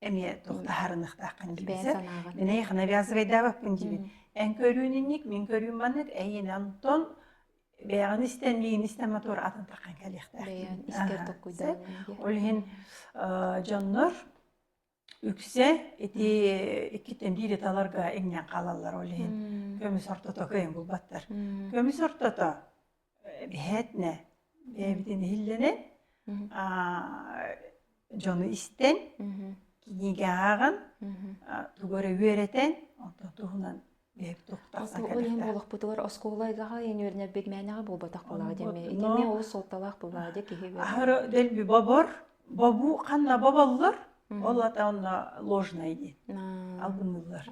эмиэ тохтаһарыныхтааххын дибизе минэйх навязывайдаабаппын дибин эн көрүүнинник мин көрүүм маннык эйин антон бэйэҕин истэн миин истэн мотор атын таққан кэлиэхтаахпын искер токкуйда ол иһин дьоннор үксе ити иккиттэн биири таларга иҥнэн хаалаллар ол иһин көмүс ортото кыйын булбаттар көмүс ортото иһэтнэ бэйэбитин иһиллэнэн дьону истэн кинигэҕин тугу эрэ үөрэтэн онтон туһунан бэйэбит олохпутугар оскуола айгаҕа иэн үөрэнэрбит мээнэҕэ буолбатах буолаҕа диэмэ итини ол суолталаах буолаҕа дии киһи аһары дэлби бобор бобу ханна боболлор ол ата онно ложное диэн албынныыллар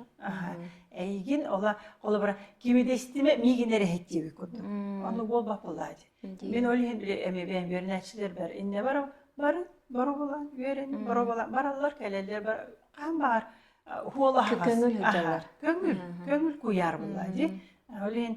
эйигин ола холобура кимидэстиме мигин эрэһэттиэбит курдук ону буолбаппылаа дии мен ол иһин били эми бэйэн бернәчилер бар инне бар барын боробула үөрэнин боробула бараллар кэлэллэр бар хаан баар хуола көңүл көңүл көңүл куярбылла ди ол иһин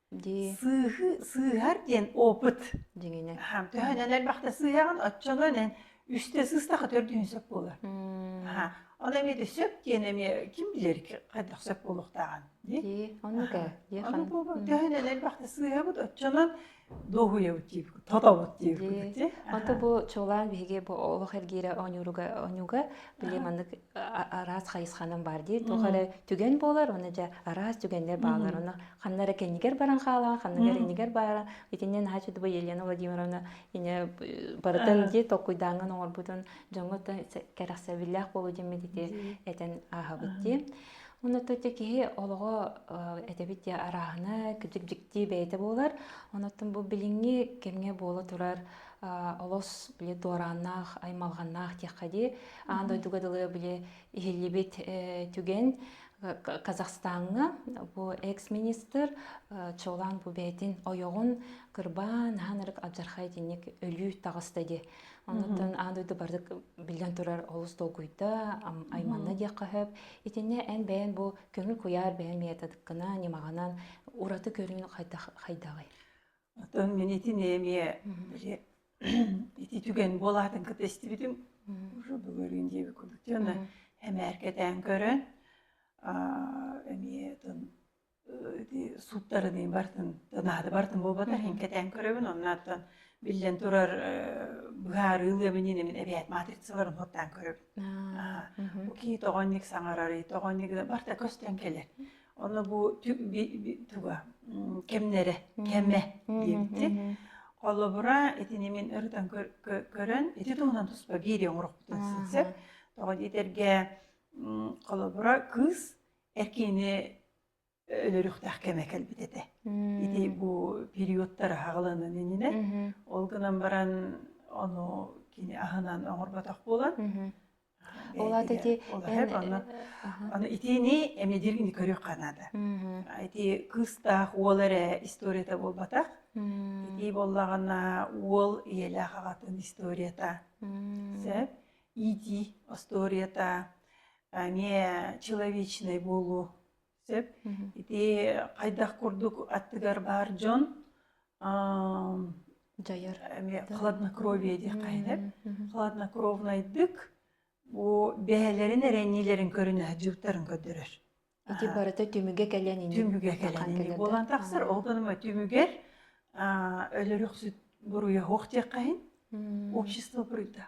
дии сыыһы сыыһар диэн опыт дьиҥинэ аһам төһө да элбэхтэ сыыһаҕын оччолон эн үстэ сыстаха төрдүн сөп буолар аха ол эмиэ сөп диэн эмиэ ким билэр хайдах сөп буолуохтааҕын дии оннук ээ дии аны буолбут төһө да элбэхтэ сыыһабыт оччонон дуоһуйабыт диибит тотобут диибит ити ото бу чуолаан биһиги бу олох эргиирэ оонньууруга оонньууга били маннык араас хайысханан баар дии туох эрэ түгэн буолар оны дьэ араас түгэннэр баалар оны ханна эрэ кэннигэр баран хаалаҕын ханныгар иннигэр баара итиннэ наһаа чудуба елена владимировна ини барытын дии толкуйдааҥҥын оҥорбутун дьоҥҥо кэрэхсэбиллээх буолуу дьиммит ити этэн ааһабыт дии Оны тутя киһи олоҕо этэбит диэ арааһына кыдьык дьикти бэйэтэ буолар онуттан бу билиҥҥи кэмҥэ буола турар олос били дуорааннаах аймалҕаннаах диэххэ дии аан дойдуга дылы били иһиллибит түгэн Казахстаҥҥа бу экс-министр чолаан бу бэйэтин ойоҕун кырбаан хаһан эрик адьархай итинник өлүү таҕыста дии онуттан аан дойду бардык биллэн турар олус долгуйда айманна диэххэ сөп итиннэ эн бэйэн бу көҥүл куйаар бэйэн методыккынан ньымаҕынан ураты көрүүн хайдаҕый Оттон мин итини эмиэ ити түгэн буолаатын кытта истибитим уже бүгүөрүн диэби кулдуктана эмээркэтээн көрөн эмиэ тын сууттарыныы бартын танаады бартын буолбата хиҥкэтээн көрөбүн оннааттан биллэн турар быһаарыы ылыамынин эмин эбэт матрицаларын хоттаан көрөбүн бу кии тоҕонник саҥарары тоҕонник барта көстөн келер Ону бу туга кэмнэрэ кэмэ диэбитин. Холобура, итини мин ырытан көрөн, ити туһунан туспа биэрии оҥорохпутун сытсык. Тоҕо диэтэргэ, холобура, кыыс эркиини өлөрүөхтээх кэмэ кэлбит этэ. Ити бу периодтар аһаҕаланан иннинэ. Ол гынан баран, ону кини аһынан оҥорботох буолан, Ол аата ити эн аны итини эмне диир ини көрүөххэ наада. Ити кыыстаах уол эрэ историята буолбатах. Итии боллагана уол ийэлээх аҕатын историята. Сеп итии остуорията эмиэ человечный буолуу. сөп. Ити хайдах курдук аттыгар баар дьон дьайар эмиэ хладнокровие диэххэ хладнокровнайдык бу бэһэлэрин эрэниилэрин көрүнэһэ дьыктарын көрдөрөр ити барыта түмүгэ кэлэн ини түмүгэ кэлэн ини буолан тахсар ол гынан түмүгэр өлөрөхсүт буруйа хуох диэххэһин общество прыта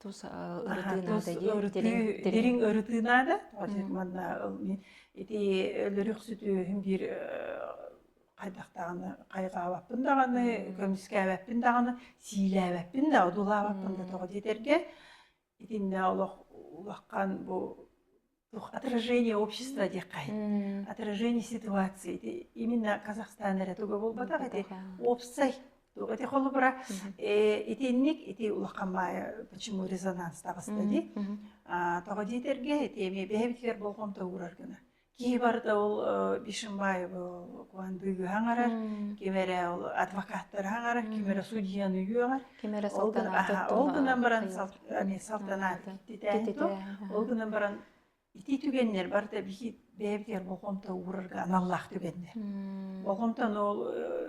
тус ырытыы наада диэн дириҥ ырытыы наада манна ити өлөрөхсүтүөһүм биир хайдахтаҕына хайҕаабаппын даҕаны көмүскээбэппин даҕаны сиилээбэппин да одуулаабаппын да тоҕо диэтэргэ итиннэ олох улахан бу ну, отражение общества диэххэ м отражение ситуации ити именно Казахстан эрэ туга буолбатах ити уопсай туга те холобура итинник ити улахан баайа почему резонанс таҕыста ди тоҕо диэтэргэ ити эмиэ бэһэбитигэр болҕомто уурар гына киһи барыта ол бишимбаев куандыыга хаҥарар ким эрэ ол адвокаттары хаҥарар ким эрэ судьяны үөҕэр ким эрэ салтанаатыт ол гынан баран салтанаатититэ ол гынан баран ити түгэннэр барыта бихит бэйэбитигэр бохомто уурарга аналлаах түгэннэр бохомтону ол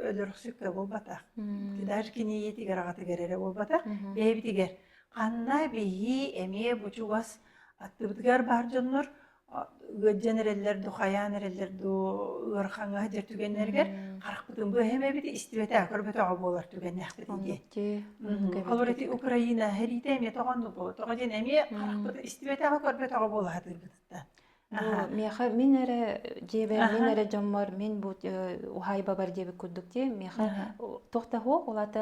өлөрөхсүккэ буолбатах даже киниетигер агатыгар эрэ буолбатах бэйэбитигер ханна бихи эмиэ бу чугас аттыбытыгар бар дьоннор ыалдьан эрэллэр дуу, хайаан эрэллэр дуу ыар хаҥаһы дьэр түгэннэригэр харахпытын бу эһэм эбит истибэтэ көрбөтөҕө буолар түгэннээхпит дии. Ол ити Украина эриитэ эмиэ тоҕо ну бу тоҕо диэн эмиэ харахпытын истибэтэҕэ көрбөтөҕө буолаһатыырбыттан. Миэхэ мин эрэ дьиэбэр мин эрэ дьоммор мин бу уһаайбабар диэбит курдук дии миэхэ тохтаһуо улата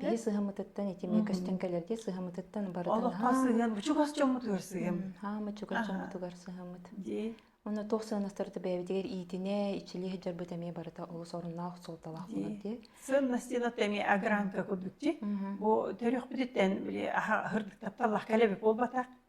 Киһи сыһамытыттан ити эмиэ көстөн кэлэр дии сыһамытыттан барытын олоххо сыһыан чугас дьоммутугар сыһыам хаама чугас дьоммутугар сыһамыт дии оны туох сыанастарда бэйэбитигэр иитинэ иччилии сылдьарбыт эмиэ барыта олус оруннаах суолталаах буолар дии сыаннастинат эми агранка кудукти бу төрөхпүтүттэн били аха аһырдыктапталлах кэлеби буолбатах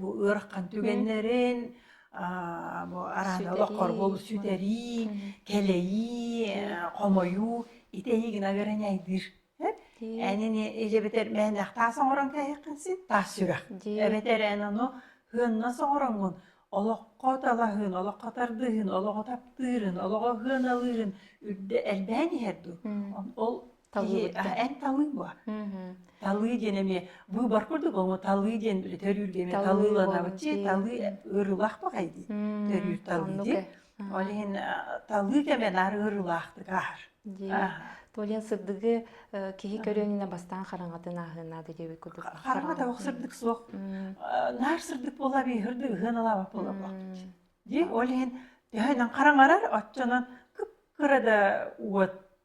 бу ыарахан түгэннэрин бу араана олох хорбул сүтэрии, кэлэйии, хомойуу ити эһиги наверное айдыыр. Энини ижебетер мээнэх таас оҥорон кэһэххин син таас сүрэх. Эбэтэр эн ону хыанна соҥороҥҥун олоххо талаһыын, олоххо тардыһыын, олоҕу таптыырын, олоҕу хыаналыырын үрдэ элбээн иһэр дуу. Ол талыы эн талыы буо талыы диэн эми быыбар курдук омо талыы диэн били төрүүргэ эми талыыланабыччы талыы ырылах бакай дии төрүүр талыы дии ол иһин талыы кэме нары ырылаахтык аар Толен сырдыгы киһи көрөөнүнэ бастаан хараҥатын ааһынаады диэбит курдук. Хараҥата ох сырдык суох. Наар сырдык бола бихырды ыһын алаба бола бохтучу. Ди ол иһин төһөнөн хараҥарар, отчонон кып-кыра да уот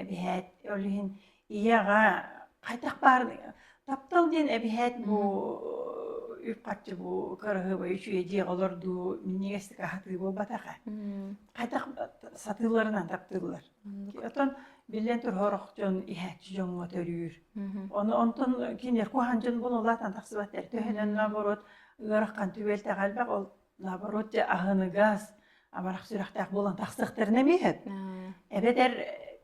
эбиһээт ол иһин ийэҕэ хайдах баар таптал диэн эбиһээт бу үп-харчы бу кыраһыабай үчүгэй дьиэҕэ олордуу минньигэстик аһатыы буолбатаҕа хайдах сатыыларынан таптыыллар оттон биллэн тур сорох дьон иһээччи дьоҥҥо төрүүр ону онтон кинилэр куһаан дьон булулаатан тахсыбаттар төһөнөн наоборот ыарахан түбэлтэҕэ элбэх ол наоборот дьэ аһыныгас амарах сүрэхтээх буолан тахсыахтарына эмиэһэт эбэтэр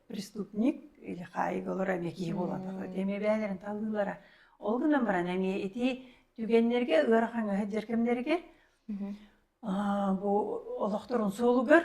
преступник или хаайыылар эмиэ киһи буолан тахсыт эмиэ бэйэлэрин талыылара ол гынан баран эмиэ ити түгэннэргэ ыарахан ыһыддьар кэмнэригэр бу олохторун суолугар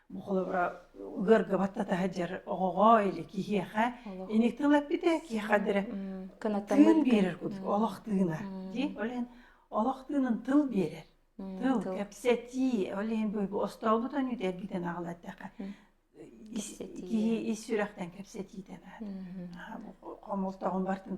холобура ыарга баттата сылдьар оҕоҕо или киһиэхэ ини тыл эппите киэхэ дэрэ тыын биэрэр курдук олох тыына дии олен олох тыынын тыл биэрэр тыл кэпсэтии ол иһин бу остообут өнүт эргитен аҕалатаха киһи ис сүрэхтен кэпсэтиитен хомолтоҕун бартын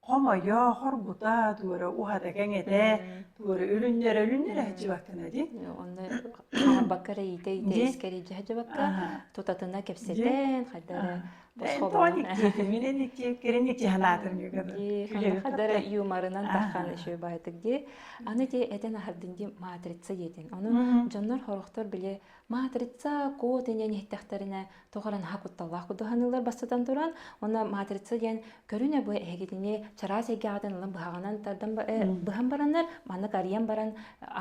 Хомойо, хоргута, туора уһата кэҥэтэ, туора үлүннэрэ үлүннэрэ сдьыбаккана ди. Онно хаҕарбакка эрэ иитэ иитэ дьэ искэрийдьэ сдьыбакка тутатына кэпсэтэн хайда эрэ босхобунан минен икки кирин икки санаатын күлэ хайда эрэ юморынан таххан өшө баайтык ди аны те этен ахардын ди матрица диэтин ону дьоннор хорохтор биле матрица кот инен иһтахтарына тоҕо эрэ наһаа кутталлаах куттаһыныылар бастатан туран уонна матрица диэн көрүнэ бу эһигитини чараас эйгэҕитин ылан быһаҕынан тардан быһан бараннар маннык арыйан баран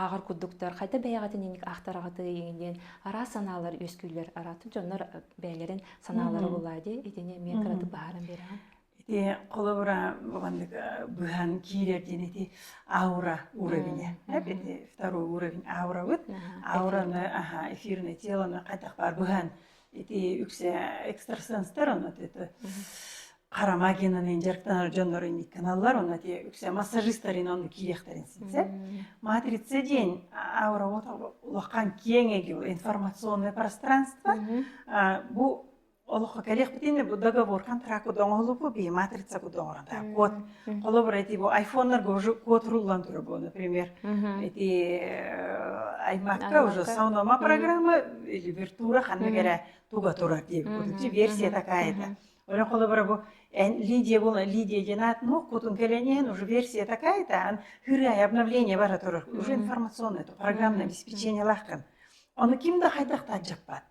ааҕар курдуктар хайда бэйэҕитин инник аахтараҕытый диэн араас санаалар үөскүүллэр араатык дьоннор бэйэлэрин санаалара буолаа дии итини эмиэ кыратык быһааран биэрэҕин Ити холобура бабаннык быһан киирэр диэн ити аура уровеня. Эп ити второй уровень аурабыт. Аураны аха эфирное тело на хатах бар быһан ити үксе экстрасенстар ону это Харамагинаны инжектанар дьоннору никканаллар оны те үксе массажистарин оны киирехтерин синсе. Матрица день аура вот улахан кеңеги информационное пространство. Бу Олоххо кэлиэхпитин бу договор контракт оҥоһулуппу би матрица кудоҕора да код холобур эти бу айфоннарга уже код руллан тура бу например эти аймакка уже саунома программа или виртура ханна кэрэ туга турар дии будучи версия такая да Олен холобура бу Лидия была Лидия Геннад, но кутун келенен уже версия такая-то, хырай обновление бара турар, уже информационное, то программное обеспечение лахкан. Оны ким да хайдах таджаппат.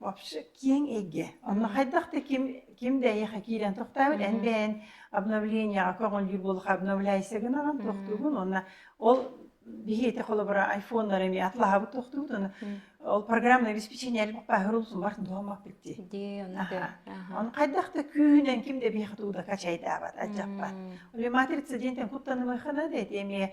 Вообще киэҥ эйгэ. Онно хайдах да ким ким да эйиэхэ киирэн тохтообут, эн Мгм. бэйэн обновлениеҕа көҕүлүүр буолуохха обновляйся гынан Мгм. тохтуубун. Уонна ол биһиэхэ холобура айфоннары эмиэ атлаһабыт тохтуубут. Уонна Мгм. ол программное обеспечение эрбэх бааһырыллысын барытын туһаммаппыт дии. Дии, ону дэ. Аһа. Аха. Ону хайдах да күүһүнэн ким да биһиэхэ туу да качайдаабат, алдьаппат. Мм. Оле матрица диэнтэн куттанымыаххына да ити эмиэ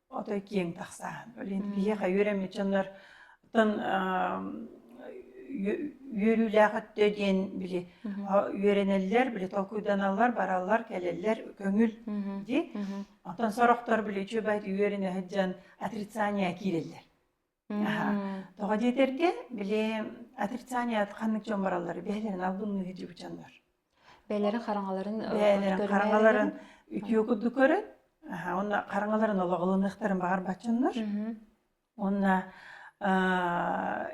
Отой киэҥ тахсаан. Блин, киһиэхэ үөрэммит дьоннор тон үөрүүлээх өттө диэн били үөрэнэллэр, били толкуйданаллар, бараллар, кэлэллэр көҥүл дии. Оттон сорохтор били үчүгэй үөрэнэ сылдьан отрицание киирэллэр. Аха. Тоҕо диэтэргэ, били отрицаният ханнык дьон бараллара бэйэлэрин албынныыр дьулучаннар. Бэйэлэрин хараҥаларын бэйэлэрин хараҥаларын үтүө курдук көрөн, аха онно хараҥаларын олоҕолонуохтарын баҕарбаччыннар. Уонна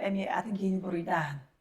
эмиэ атын киһини буруйдааһын.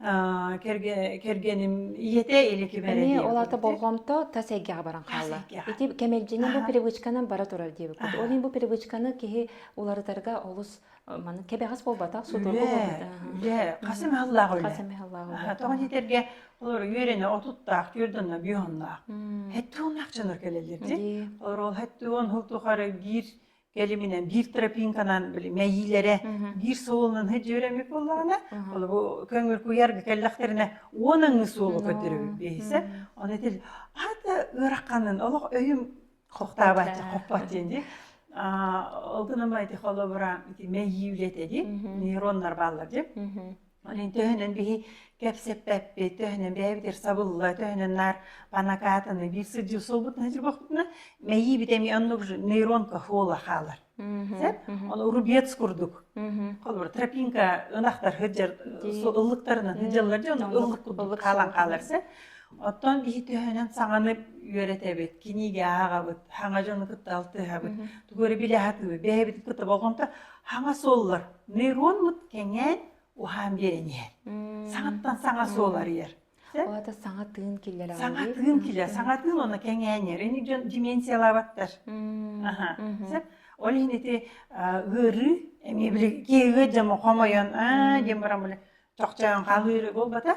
кэргэним ийэтэ или кимэрэ ол ата болҕомто тас эйгэҕэ баран хаалла ити кэмэлдьини бу привычканан бара турар диэбит курдук ол иһин бу привычканы киһи уларытарга олус маны кэбэҕэс буолбатах судургу үлэ хасым аһыллаах үлэ хасым аһыллаах тоҕо диэтэргэ олор үөрэнэ отуттаах түөрдана биоһуннаах хэттэ уоннаахчана кэлэллэр олор ол хэттэ уон хыл тухары биир кэлиминэн биир тропинканан били мэйиилэрэ биир суолунан дьүөрэммит буоллаҕына олобу көҥүл куйарга кэллэхтэринэ уон аҥы суолу көрдөрөбүт биэһисэ оны этил ата ыараханын олох өйүм хохтаабачча хоппот диэн ди алдынамайты холобура мэйии үлэтеди нейроннар бааллар ди Блин, төһөнөн биһи кэпсэппэппит, төһөнөн бэйэбитигэр сабылла, төһөнөн наар понакатаны биир сылдьыы суолбутун сирбохпутуна, мэйиибит эми оннук же нейронках уола хаалар. Сеп? Ону рубец курдук. Холбор тропинка ынахтар хыджар ыллыктарынан хыджаллар же ону ыллык курдук хаалан хаалар сеп. Оттон биһи төһөнөн саҥаны үөрэтэбит, кинигэ ааҕабыт, хаҥа дьону кытта алтыһабыт, тугу эрэ билэ сатыыбыт, бэйэбит кытта болҕомто Хаҥа суоллар нейронмут кэҥээн уһаан биэрэн иһэр. Саҥаттан саҥа суол арыйар. Оата саҥа тыын киллэрэ Саҥа тыын киллэрэ, саҥа тыын оны кэҥээн иһэр. Ини дьон дименсиялаабаттар. Аха. Ол иһин ити ыарыы эмиэ били киһи дьомо хомойон аа диэн баран били чохчоон хаалыыры буолбата.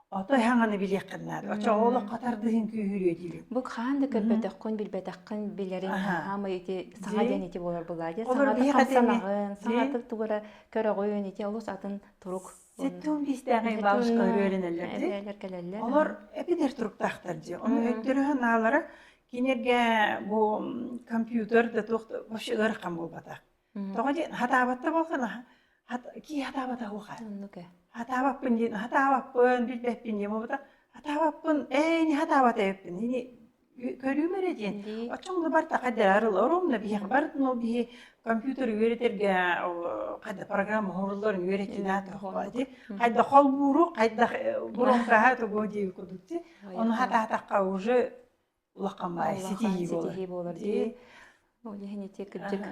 Ото эһэҥ билиэххин наада. Оччоҕо олоххо тардыһыҥ күүһүрүө диибин. Бу хаһан да көрбөтөххүн, билбэтэххин билэрин наһаамай ити саҥа диэн ити буолар буолаа диэн саҥата хамсанаҕын, саҥата тугура көрөҕүн ити олус атын турук Сэттиун биистээҕи баалышка өрүөлэнэллэр дии. кэлэллэр. Олор эпидэр туруктаахтар дии. Ону өттөрө санаалара кинерге бу компьютер да тоқ вообще ырахан буолбатах. Тоҕо диэн сатаабатта буоллаҕына кии сатаабата уоха. Оннук ээ. Сатаабаппын диэн сатаабаппын билбэппин диэн буолбута сатаабаппын ээ ини сатаабат эбиппин ини көрүүм эрэ диэн оччоҥно барыта хайдалар оруомна биһиэхэ барытын ол биһи компьютер үөрэтэргэ хайда программа оҥороллорун үөрэтинэ ди хайдах холбуурух хайдах бурумкаһа тугу диир кудук ти ону сатаатахха уже улахамай ситиһии ситиһии буолар дии ол иһинити кырдьык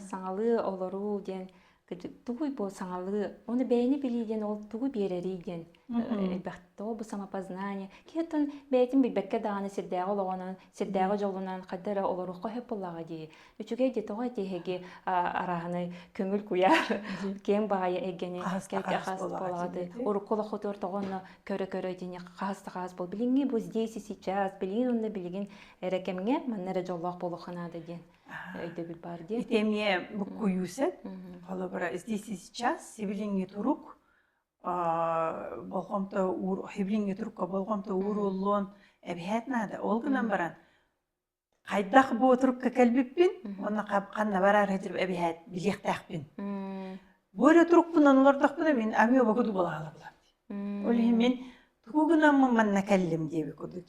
саҥалыы олоруу диэн кырдьык тугуй бу саҥалыы оны бэйэни билии диэн ол тугу биэрэрий диэн элбэх тоҕо бу самопознание киһи оттон бэйэтин билбэккэ даҕаны сирдээҕи олоҕунан сирдээҕи дьолунан хайда эрэ олоруохха сөп буоллаҕа дии үчүгэй де тоҕо эти эһиги арааһынай көҥүл куяар киэм баайы эйгэни кэлке хас болаҕады урукку лохотуор тоҕонно көрө көрө дини хас та хас бол билиҥҥи бу здесь и сейчас билигин онно билигин эрекемҥe манна эрэ жоллоох болоханаада диэн өйдөбүл бар диэн итемне буккуйуусет холобура здесь и сейчас сибилиҥҥи турук болҕомто уур хиблиҥҥи турукка болҕомто ууруллуон эбиһэт наада ол гынан баран Хайдах бу отрубка кэлбиппин уонна ханна бараары эбиһээт билиэхтээхпин. Бу эрэ турукпунан олордохпуна мин амио богуду булаалабыла. Ол иһин мин тугу гынаммын манна кэллим диэби курдук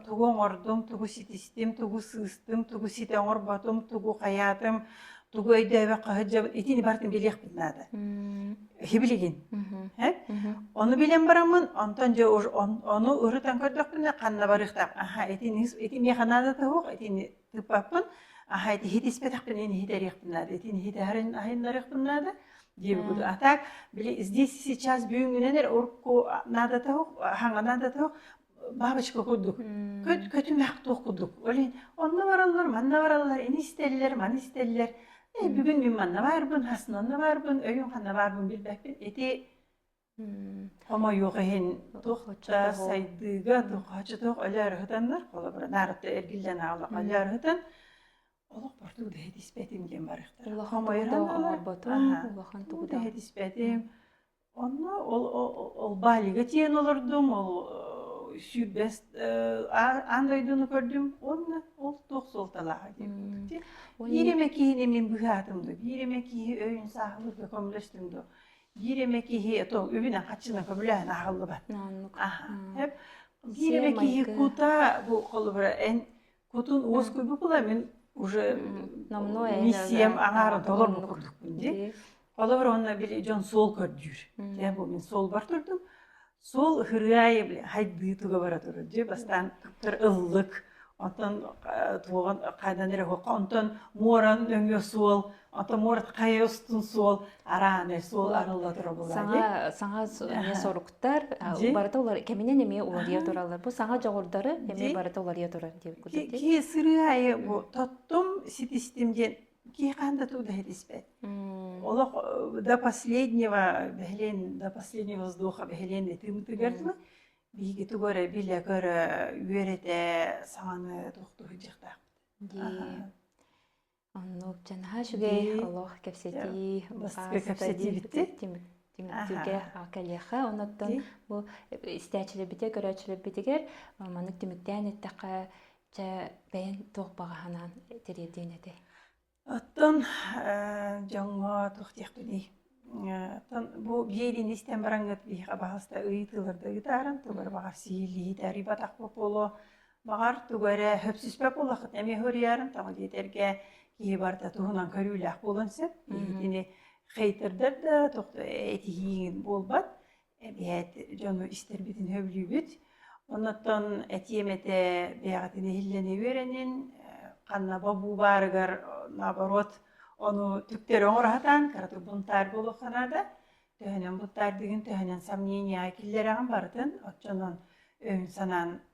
тугу оҥордум, тугу ситистим, тугу сыыстым, тугу ситэ оҥорботум, тугу хайаатым, тугу өйдөөбөк хаһыддьа итини бартын билиэхпин наада киһи билигин ону билэн бараммын онтон дьэ ону ырытан көрдөхпүнэ ханна барыахтаах аха итини ити миэхэ наада туһуох итини тыппаппын аха ити иһитиспэтэхпин ини иһитэриэхпин наада итини иһитэрин айыннарыахпын наада диэбигут а так били здесь сейчас бүгүнгүнэнер урукку наада туһух хаҥа наада туһух бабочка курдук көт көтүмэх туох курдук олень онно бараллар манна бараллар ини истэллэр маны истэллэр э бүгүн мин манна баарбын хасын онно баарбын өйүн ханна баарбын билбэппин ити хомойуох иһин туохча сайдыыга тухача туох өлөөр ыһытаннар холобура наарытта эргиллэн аалах өлөөр ыһытан олох борту дэһит испэтим диэн барыахтар хомойутан олорботум улахан тугу дэһит испэтим Онно ол ол Балига тиийэн олордум, ол сүүрбэс аан дойдуну көрдүм уонна ол туох суолталааҕа диэн эппитим. Биир эмэ киһини мин быһаатым дуо, биир эмэ киһи өйүн-сааһылыырга көмөлөстүм дуо, биир эмэ киһи то үбүнэн хаччына көбүлээн аһыллыбат. Аһа. Биир эмэ киһи кута бу холобура эн Кутун уоскуйбу булабын уже миссиям аҥаара толору курдукпун дии. Холобур онно били дьон суол көрдүүр. Дьэ бу мин суолбар турдум. Суол ыһырыайы били хайдыы туга бара турар дии. Бастаан туттар ыллык, онтон туоҕан хайдан эрэ онтон муоран нөҥүө суол Атомор хайостун суол арааны суол арылла турабыла саҥа саҥа эмиэ соруктар барыта олар кэминен эмиэ уларыйа туралар бу саҥа жогурдары эмиэ барыта уларыйа турар диэн кутити ки сыры айы бу тоттум ситистим диэн ки ханда туда испэт олох до последнего бәһлен до последнего воздуха бәһлен этим тыгырдылы биһиги тугары биле көрө үөрэтэ саҥаны тохтуһу жақтақ Оннук наһаа үчүгэй олох кэпсэтии түмүктүүгэ кэлиэхэ онуттан бу истээчилэрбитигэр көрөөччүлэрбитигэр маннык түмүктээн эттэххэ чэ бэйэн туох баҕаһанаан тириэрдиэн этэ оттон дьоҥҥо туох диэхпиний оттон бу биэлин истэн бараҥҥыт биһиэхэ баҕаста ыйытыыларда ыытааран тугар баҕар сиилии тарыйбатах буолуо Баҕар, тугу эрэ сөпсүспэт буоллаххыт эмиэ уһуйаарын тоҕо диэтэргэ киһи барыта туһунан көрүүлээх буолуон сөп. Киһитини хейтардар да тохто этиһииҥ буолбат. Эбиэт дьону истэрбитин сөбүлүүбүт. Оннуттан этиэм этэ бэйэҕитин иһиллэни үөрэнин, ханна бобуу баарыгар наоборот ону түктөрү оҥороһутаан кыратык бунтаар буолуохха наада. Төһөнөн бунтаардыгын төһөнөн сомненияҕа киллэрэҕин барытын оччонон өйүн санаан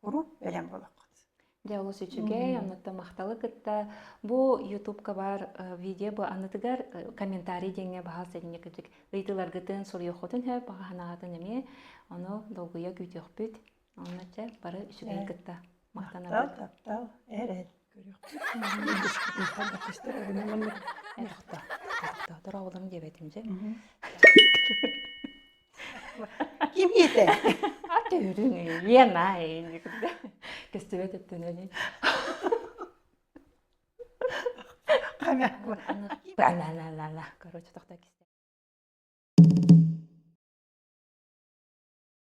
уруу өлөн буолаххыт Дьэ олус үчүгэй, оннуктан махталы кытта. Бу Ютубка бар видео бу анытыгар комментарий диэҥҥэ баһал сэнньэ кытык ыйытыыларгытын, суруйуоххутун сөп, хаһаанаҕытын эмиэ ону долгуйа күүтүөхпүт. Онно чэ бары үчүгэй кытта махтанабыт. Таптал, таптал, эрэл. артистер эрэнэ маннык охтоотор оҕолорум диэбэтим дьэ ким ийэтэ ате үрүҥ иена кэстибэт өттүнэни ана короче тохта кисте